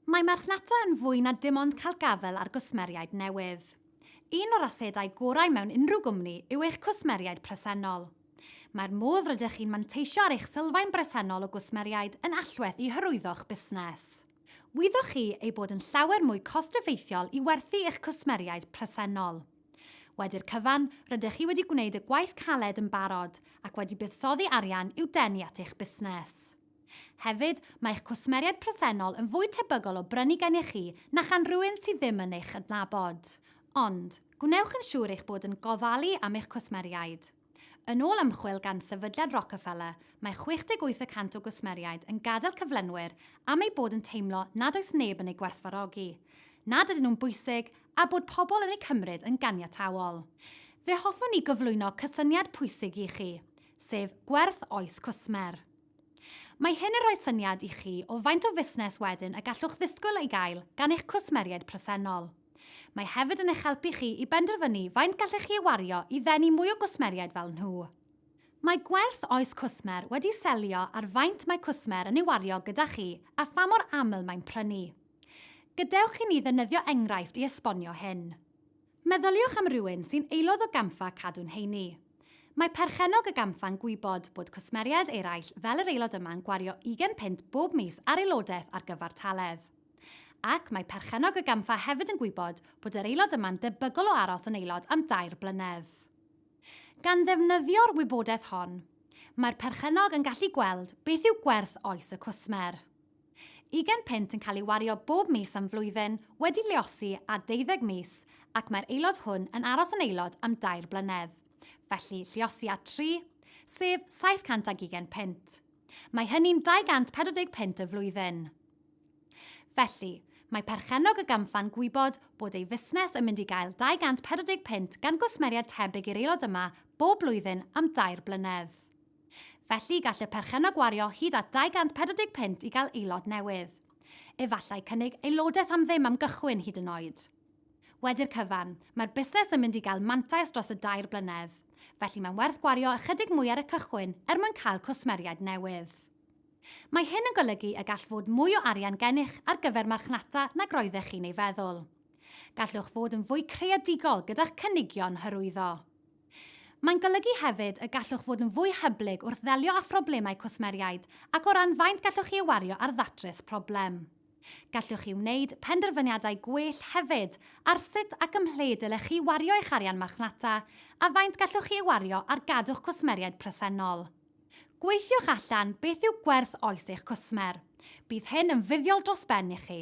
Mae marchnata yn fwy na dim ond cael gafael ar gwsmeriaid newydd. Un o'r asedau gorau mewn unrhyw gwmni yw eich cwsmeriaid presennol. Mae'r modd rydych chi'n manteisio ar eich sylfaen bresennol o gwsmeriaid yn allweddol i hyrwyddo'ch busnes. Wyddoch chi ei bod yn llawer mwy cost-effeithiol i werthu i'ch cwsmeriaid presennol. Wedi'r cyfan, rydych chi wedi gwneud y gwaith caled yn barod ac wedi buddsoddi arian i'w denu at eich busnes. Hefyd, mae eich cwsmeriaid presennol yn fwy tebygol o brynu gennych chi na chan rywun sydd ddim yn eich adnabod. Ond, gwnewch yn siŵr eich bod yn gofalu am eich cwsmeriaid. Yn ôl ymchwil gan Sefydliad Rockefeller, mae 68 y cant o gwsmeriaid yn gadael cyflenwyr am eu bod yn teimlo nad oes neb yn eu gwerthfawrogi, nad ydyn nhw'n bwysig a bod pobl yn eu cymryd yn ganiataol. Fe hoffwn i gyflwyno cysyniad pwysig i chi, sef gwerth oes cwsmer. Mae hyn yn rhoi syniad i chi o faint o fusnes wedyn y gallwch ddisgwyl ei gael gan eich cwsmeriaid presennol. Mae hefyd yn eich helpu chi i benderfynu faint gallech chi ei wario i ddenu mwy o gwsmeriaid fel nhw. Mae gwerth oes cwsmer wedi selio ar faint mae cwsmer yn ei wario gyda chi a pha mor aml mae'n prynu. Gadewch i ni ddefnyddio enghraifft i esbonio hyn. Meddyliwch am rywun sy'n aelod o gampfa Cadw'n Heini. Mae perchennog y gampfa'n gwybod bod cwsmeriaid eraill fel yr aelod yma'n gwario ugain punt bob mis ar aelodaeth ar gyfartaledd. Ac mae perchennog y gampfa hefyd yn gwybod bod yr aelod yma'n debygol o aros yn aelod am dair blynedd. Gan ddefnyddio'r wybodaeth hon, mae'r perchennog yn gallu gweld beth yw gwerth oes y cwsmer. Ugain punt yn cael ei wario bob mis am flwyddyn, wedi luosi ar deuddeg mis, ac mae'r aelod hwn yn aros yn aelod am dair blynedd. Felly, lluosi ar tri, sef saith cant ag ugain punt. Mae hynny'n dau gant pedwar deg punt y flwyddyn. Felly, mae perchennog y gampfa'n gwybod bod ei fusnes yn mynd i gael dau gant pedwar deg punt gan gwsmeriaid tebyg i'r aelod yma bob blwyddyn am dair blynedd. Felly, gall y perchennog wario hyd at 240 punt i gael aelod newydd. Efallai cynnig aelodaeth am ddim am gychwyn hyd yn oed. Wedi'r cyfan, mae'r busnes yn mynd i gael mantais dros y dair blynedd, felly mae'n werth gwario ychydig mwy ar y cychwyn er mwyn cael cwsmeriaid newydd. Mae hyn yn golygu y gall fod mwy o arian gennych ar gyfer marchnata nag roeddech chi'n ei feddwl. Gallwch fod yn fwy creadigol gyda'ch cynigion hyrwyddo. Mae'n golygu hefyd y gallwch fod yn fwy hyblyg wrth ddelio â phroblemau cwsmeriaid ac o ran faint gallwch chi ei wario ar ddatrys problem. Gallwch chi wneud penderfyniadau gwell hefyd ar sut ac ymhle dylech chi wario eich arian marchnata a faint gallwch chi ei wario ar gadw'ch cwsmeriaid presennol. Gweithiwch allan beth yw gwerth oes eich cwsmer. Bydd hyn yn fuddiol dros ben i chi.